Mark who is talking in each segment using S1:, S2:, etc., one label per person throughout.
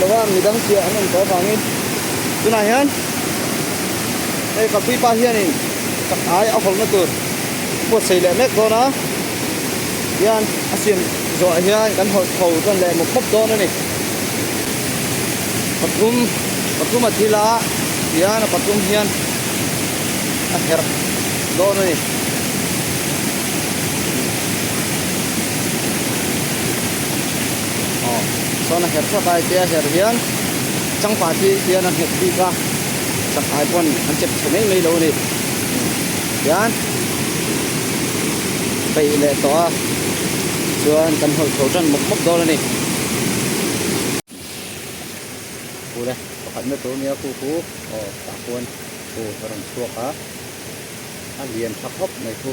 S1: Loha midang piah an awm tawh avang in tunah hian hei Kalpui pa hian in ka hnai a hawlhna tur buatsaih leh mek dawn a hian a siam zawh ah hian kan hawlh tho chuan leh mawp mawp dawn a ni pathum pathum a thil a hian a pathum hian a herh dawn a ni aw chuan a herh thluak a ipte a herh hian chang pa chi hian a nghet bik a chang pai pawn an chet chhe mai mai lo a ni tichuan peih leh tawh a chuan kan hawi tho tan mawp mawp dawn a ni u le pakhat na tur a nia khupu aw tah khuan u a rawn chhuak a a lian tha khawp mai thu.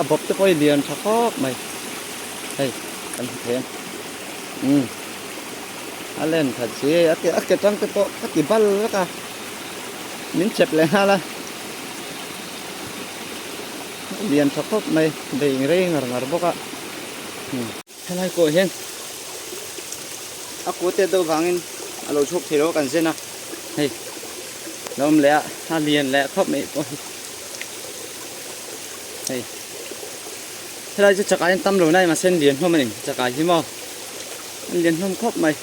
S1: A bawp te pawh hi lian tha khawp mai. Hei, kan hmu thei a. Umm. A len tha che. A ke, a ke tang te pawh ka ti bal vek a. Min chep leh nghal a. Lian tha khawp mai. Vei ingrei ngar ngar bawk a. Umm. Helai pawh hian a kute deuh vangin a lo chhuk thei lo a kan zen a hei lo awm leh a a lian leh khawp mai pawh hi hei helai chu chakah hian tam lo nai mahse an lian hlawm a ni chakah hi maw an lian hlawm khawp mai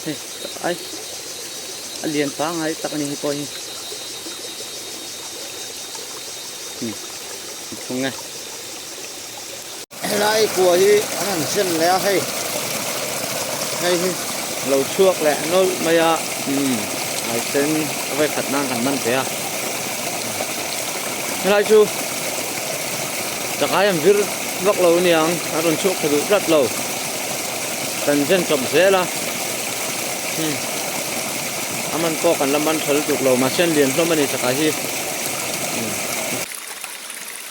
S1: hei chakah ai a lian pangai tak a ni hi pawh hi hmm. Helai kua hi an han chem leh a hei hei hi lo chhuak leh nawlh mai a ai sen a vai khat nan kan man ve a helai chu chakai an vir vak lo niang a rawn chhuak tha duh tlat lo kan zen chawp zel a a man pawh kan la man tha lutuk lo mahse an lian hlawm a ni chakai hi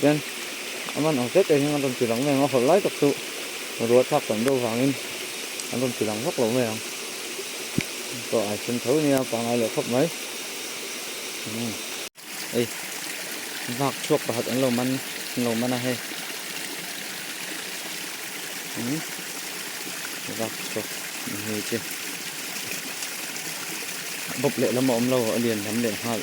S1: Chuan a man ang zette'n hian an rawn tilang mai ang a, hawlh lai tak chu ruah chhak tam deuh vangin an rawn tilang vak lo mai ang. Pawh ai sen tho nia, pangngai leh khawp mai. Hei, vak chhuak pakhat an lo man, an lo man a hei. Vak chhuak ni ngei che. Bawp lehlam a awm lo, a lian lam leh nghal.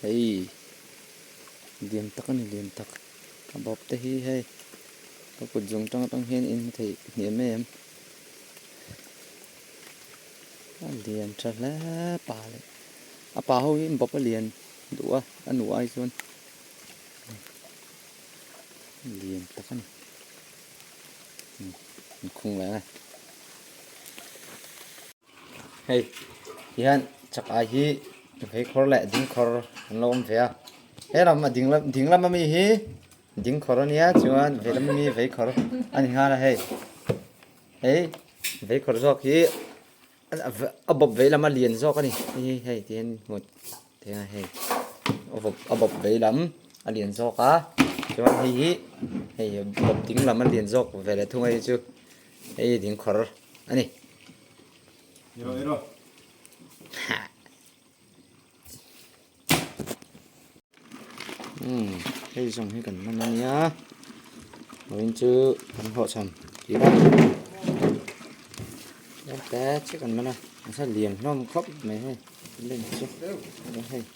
S1: Hei lian tak a ni lian tak ka bawp te hi hei ka kut zawng tang tang hian in hmu thei hnem em a lian tha hle pa leh a pa ho hi bawp a lian duh a a nu ai chuan lian tak a ni in khung leh nge Hei hian chak ai hi vei khawr leh ding khawr an lo awm ve a, he lam a ding ding lam ami hi ding khawr a nia chuan vei lam ami vei khawr a ni nghal a hei, hei vei khawr zawk hi a bawp vei lam a lian zawk a ni hi hei ti hian hmu thei a hei a bawp vei lam a lian zawk a chuan hei hi hei bawp ding lam a lian zawk ve leh thung ai hi chu. Hei hi dingkhawr a ni. I rawh, i rawh. Umm, hei zawng hi kan man a nia. Loin chu kan hlawh chhan tih a. Tlem te chiah kan man a. Nasa lian hlawm khawp mai hei. Lem chu. Hei.